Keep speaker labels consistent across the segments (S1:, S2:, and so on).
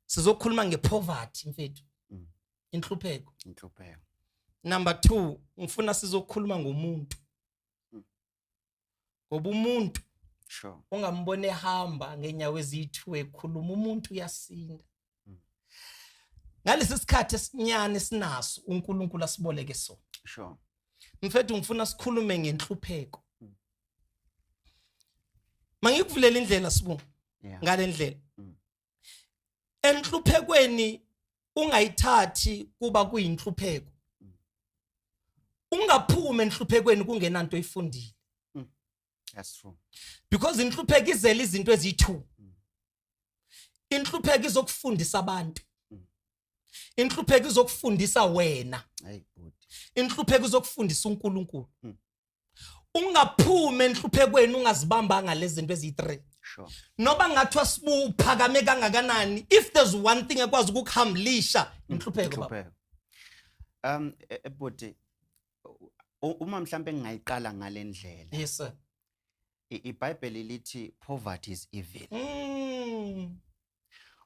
S1: sizokhuluma ngepoverty mfethu mm. inhlupheko inhlupheko number 2 ngifuna sizokhuluma ngomuntu mm. ngoba umuntu sure ungambone ehamba ngenyawo ezithu ekhuluma umuntu uyasinda mm. ngalesi sikhathi esinyane sinaso uNkulunkulu asiboleke so sure mfethu ngifuna sikhulume ngenhlupheko mangikuvulela indlela sibu ngalendlela enhluphekweni ungayithathi kuba kuyinhlupheko ungaphuma enhluphekweni kungenanto oyifundile hmm.
S2: that's true because inhlupheko
S1: izela izinto ezithu hmm. inhlupheko izokufundisa abantu hmm. inhlupheko izokufundisa wena inhlupheko izokufundisa uNkulunkulu ungaphuma enhluphekweni ungazibambanga lezinto eziyi-3 sure. noba ngathiwa sibuphakame kangakanani if there's one thing ekwazi ukukuhamlisha inhlupheko um e, e, bhuti
S2: uma mhlampe ngingayiqala ngalendlela yes
S1: sir ibhayibheli
S2: lithi poverty is evil mm.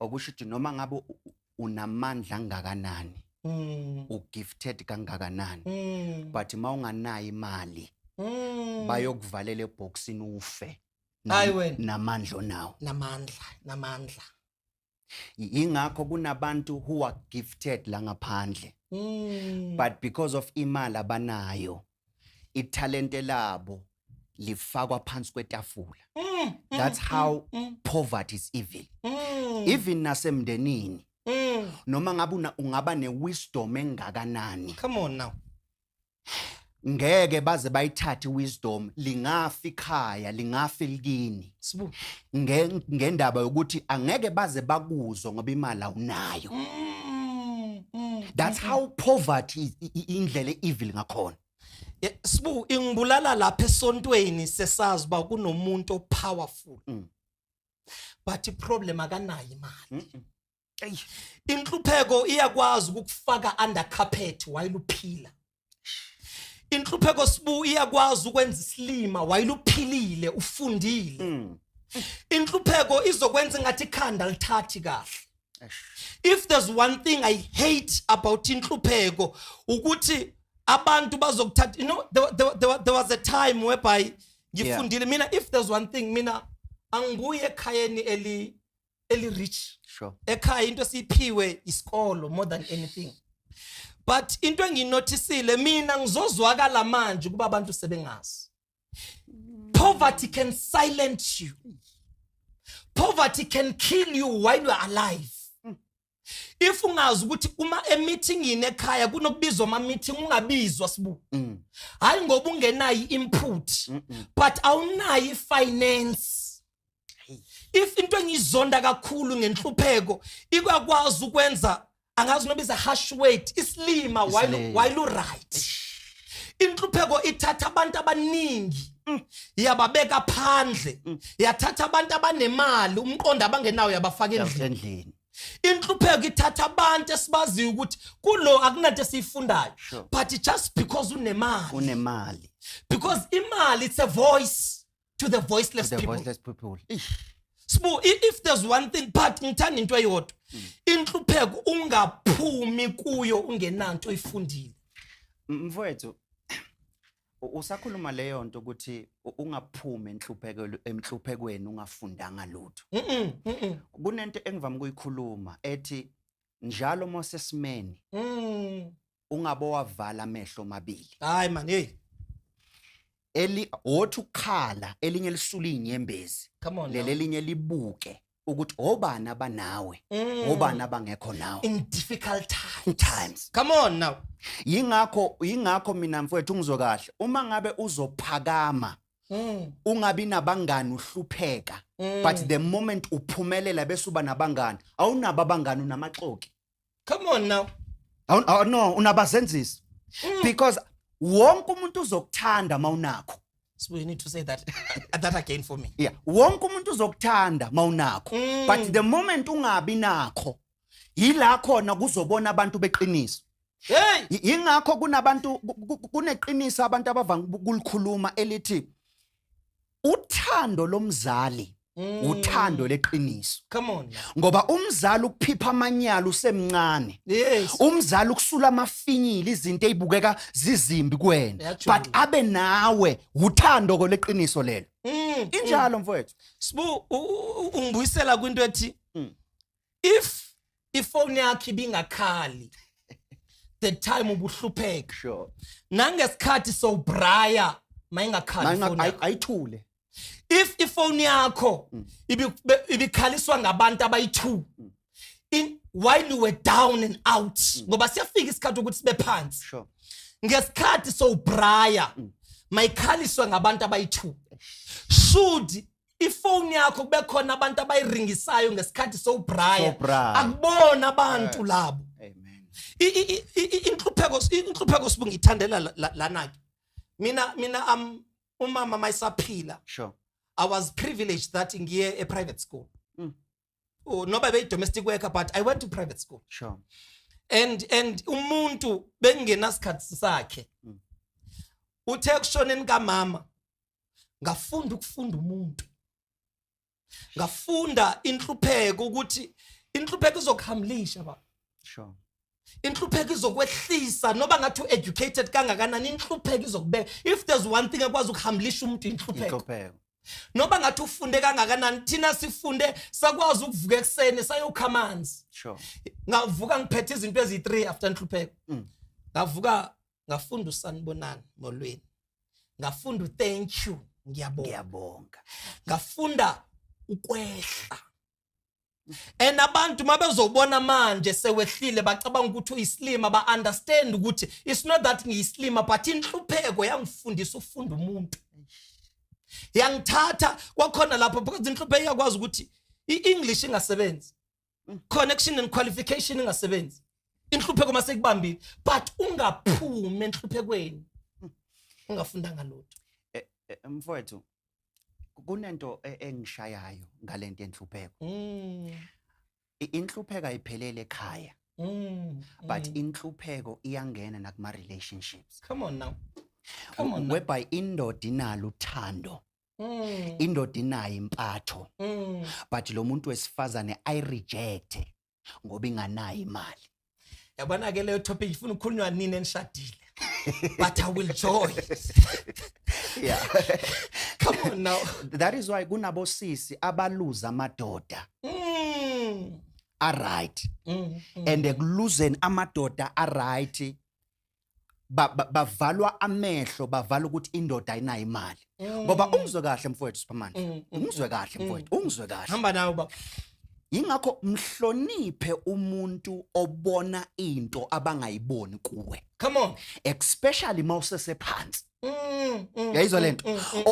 S2: okusho ukuthi noma ngabe u- u- unamandla angakanani Mm. ugifted kangakanani Mm. but uma unganayo imali Mm. bayokuvalela ebhokisini ufe nam- Hayi wena. namandla onawo namandla namandla Y- yingakho kunabantu who are gifted la ngaphandle Mm. but because of imali abanayo ithalente labo lifakwa phansi kwetafula mm, mm, that's how mm, poverty is evil even nasemndenini noma ngabe ungaba newisdom engakanani come on now
S1: ngeke
S2: baze bayithathe wisdom lingafi ikhaya lingafi likini Sibu ngendaba yokuthi angeke baze bakuzwe ngoba imali awunayo. Mm, mm, That's mm, how poverty indlela evil ngakhona. Sibu
S1: ingibulala lapha esontweni sesazi ba kunomuntu o powerful. But i problem akanayo imali. eyi inhlupheko iyakwazi ukukufaka under carpet wayeluphila inhlupheko sibu iyakwazi ukwenza isilima wayeluphilile ufundile mm. inhlupheko izokwenza ngathi ikhanda lithathi kahle if there's one thing i hate about inhlupheko ukuthi abantu bazokuthatha you know there, there, there, there was a time whereby ngifundile yeah. mina if there's one thing mina angibuye ekhayeni eli eli rich sure ekhaya into esiphiwe isikolo more than anything but into enginothisile mina ngizozwakala manje kuba abantu sebengazi poverty can silence you poverty can kill you while you are alive if ungazi ukuthi uma emithingini ekhaya kunokubizwa ama meeting ungabizwa sibu mm. hayi ngoba ungenayo input mm -mm. but awunayo finance if into engizonda kakhulu ngenhlupheko ikwakwazi ukwenza angazi noba is a harsh weight isilima while while u right inhlupheko ithatha abantu abaningi Mm. yababeka phandle mm. yathatha abantu abanemali umqondo abangenawo yabafaka endlini inhlupheko ithatha abantu esibaziyo ukuthi kulo akunanto esiyifundayo sure. but just because unemali unemali because imali it's a voice to the voiceless to the people, voiceless people. Sbu, if there's one thing but ngithanda into eyodwa mm. inhlupheko ungaphumi kuyo ungenanto oyifundile mfowethu
S2: usakhuluma leyo nto ukuthi ungaphumi enhluphekweni emhluphekweni ungafundanga lutho kunento engivama ukuyikhuluma ethi njalo mose simeni mm. ungabo wavala amehlo omabili hayi man hey
S1: eli
S2: othi ukukhala elinye lisula inyembezi leli elinye libuke ukuthi obani abanawe Mm. obani abangekho nawe in difficult
S1: times times
S2: come on now
S1: yingakho
S2: yingakho mina mfowethu ngizwe kahle uma ngabe uzophakama Mm, ungabi nabangani uhlupheka mm. but the moment uphumelela bese uba nabangani awunabo abangani unamaxoki come on now
S1: Awu- awu- no
S2: unabazenzisi Mm. because wonke umuntu uzokuthanda uma unakho sibuye need to say
S1: that that again for me yeah wonke umuntu
S2: uzokuthanda uma unakho Mm. but the moment ungabi nakho yila khona kuzobona abantu beqiniso hey Y-
S1: yingakho kunabantu
S2: ku- ku- kuneqiniso abantu abavanga uku- ukulikhuluma elithi uthando lomzali Mm. uthando leqiniso Come on. now. ngoba
S1: umzali
S2: ukuphipha amanyala usemncane Yes. umzali
S1: ukusula
S2: amafinyila izinto ezibukeka zizimbi kuwena Yajula. but abe nawe uthando koleqiniso lelo Mm. injalo mfowethu Sbu u- u-
S1: u- ungibuyisela kwinto ethi Mm. if ifoni yakhe ibingakhali the time ubuhlupheka sure
S2: nangesikhathi
S1: so braya mayingakhali ifoni yakho ayithule
S2: if
S1: ifoni yakho mm. ibikhaliswa ngabantu abayi2 mm. in while you were down and out mm. ngoba siyafika isikhathi ukuthi sibe phansi sure
S2: ngesikhathi
S1: so braya mayikhaliswa ngabantu abayi2 should ifoni yakho kube khona abantu abayiringisayo ngesikhathi sowubraya akubona abantu labo
S2: inhlupheko
S1: inhlupheko sibunga ithandela lana ke mina mina am umama mayisaphila sure i
S2: was
S1: privileged that ngiye e private school mm. oh, noba beyi domestic worker but i went to private school sure
S2: and
S1: and umuntu bengenasikhathi sakhe mm. uthe kushoneni kamama ngafunda ukufunda umuntu ngafunda inhlupheko ukuthi inhlupheko izokuhamlisha ba sure
S2: inhlupheko
S1: izokwehlisa noba ngathi u-educated kangakanani inhlupheko izokubeka if there's one thing ekwazi ukuhambilisha umuntu inhlupheko noba ngathi ufunde kangakanani thina sifunde sakwazi ukuvuka ekuseni sayokha amanzi sure.
S2: ngavuka
S1: ngiphethe izinto eziyi-three after nhlupheko mm. ngavuka ngafunda usanibonani molweni ngafunda uthank you ngiyabonga ngafunda ukwehla and abantu mabezobona manje sewehlile bacabanga ukuthi uyisilima ba understand ukuthi it's not that ngiyisilima but inhlupheko yangifundisa ukufunda umuntu yangithatha kwakhona lapho because inhlupheko iyakwazi ukuthi i-english ingasebenzi connection and qualification ingasebenzi inhlupheko mase kubambile but ungaphumi enhluphekweni ungafundanga lutho eh, eh, mfowethu
S2: kunento e, engishayayo ngalento enhlupheko mm. inhlupheko ayiphelele ekhaya mm. but mm. inhlupheko iyangena nakuma relationships come on now
S1: come on whereby
S2: indoda inalo uthando Mm. indoda inayo impatho mm. but lo muntu wesifazane i reject ngoba inganayo imali yabona ke
S1: leyo topic ifuna ukukhulunywa nini enishadile but i will join
S2: yeah
S1: come on now that is why
S2: kunabosisi abaluza amadoda mm. aright mm, mm. and ekuluzeni amadoda aright bavalwa ba, ba amehlo bavala ukuthi indoda ayinayo imali mm. ngoba mm. ungizwe kahle mfowethu superman mm, mm, ungizwe mm, kahle mm, mfowethu ungizwe kahle hamba nawe baba
S1: yingakho
S2: mhloniphe umuntu obona into abangayiboni kuwe come on
S1: especially
S2: mawusesephansi Mm, mm, yayizwa mm, lento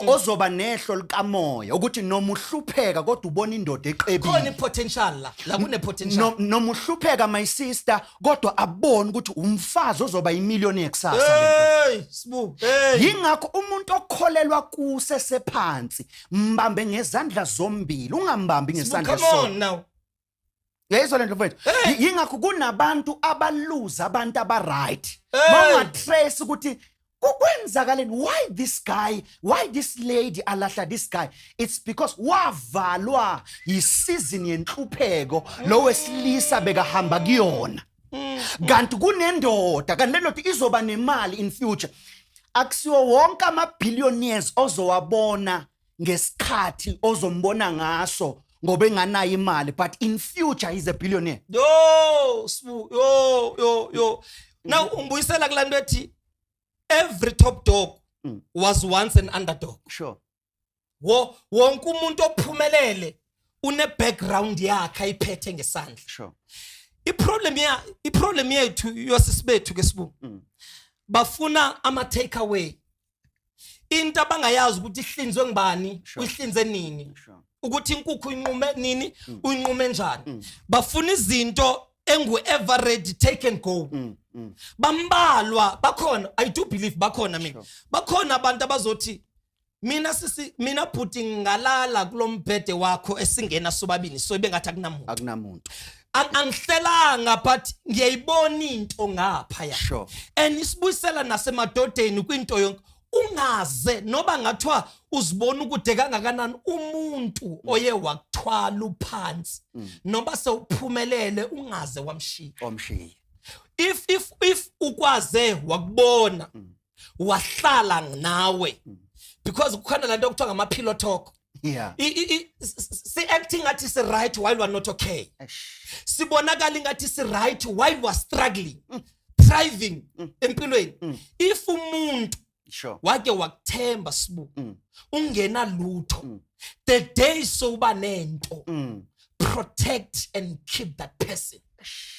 S2: ozoba nehlo likamoya ukuthi noma uhlupheka kodwa ubona indoda eqebile khona ipotential la
S1: la kune potential noma uhlupheka
S2: my sister kodwa abone ukuthi umfazi ozoba imillionaire kusasa hey sibu hey
S1: yingakho umuntu
S2: okholelwa kuse sephansi mbambe ngezandla zombili ungambambi ngesandla sona
S1: yayizwa
S2: le nto mfethu yingakho kunabantu abaluza abantu abaright bangatrace ukuthi kukwenzakaleni why this guy why this lady alahla this guy it's because wavalwa yisizini yenhlupheko lo wesilisa bekahamba kuyona mm. kanti kunendoda kanti le ndoda izoba nemali in future akusiwo wonke ama-billionaires ozowabona ngesikhathi ozombona ngaso ngoba enganayo imali but in future he's a billionaire yo sbu yo
S1: yo yo now umbuyisela kulanto ethi every top dog mm. was once an underdog sure
S2: wo
S1: wonke umuntu ophumelele une background yakhe ayiphethe ngesandla sure
S2: iproblem ya iproblem
S1: yethu yosisibethu ke sibu mm. bafuna ama take away into abangayazi ukuthi ihlinzwe ngibani uyihlinze nini ukuthi inkukhu inqume nini mm. uyinqume njani mm. bafuna izinto engu ever ready take and go mm, bambalwa bakhona i do believe bakhona mina bakhona abantu abazothi mina sisi mina bhuti ngalala kulombhede wakho esingena sobabini so ibengathi akunamuntu akunamuntu
S2: angihlelanga
S1: but ngiyayibona into ngapha ya sure. and isibuyisela nasemadodeni kwinto yonke ungaze noba ngathiwa uzibona ukude kangakanani umuntu mm. oye wakuthwala uphansi mm. noba sewuphumelele ungaze wamshiya
S2: if if
S1: if ukwaze wakubona mm. wahlala nawe hmm. because kukhona lento okuthiwa ngama pillow talk yeah si acting ngathi si right while we are not okay sibonakala ingathi si right while we are struggling mm. thriving mm. empilweni mm. if umuntu sure wake
S2: wakuthemba
S1: sibu mm. ungena lutho mm. the day so uba nento mm. protect and keep that person Shh.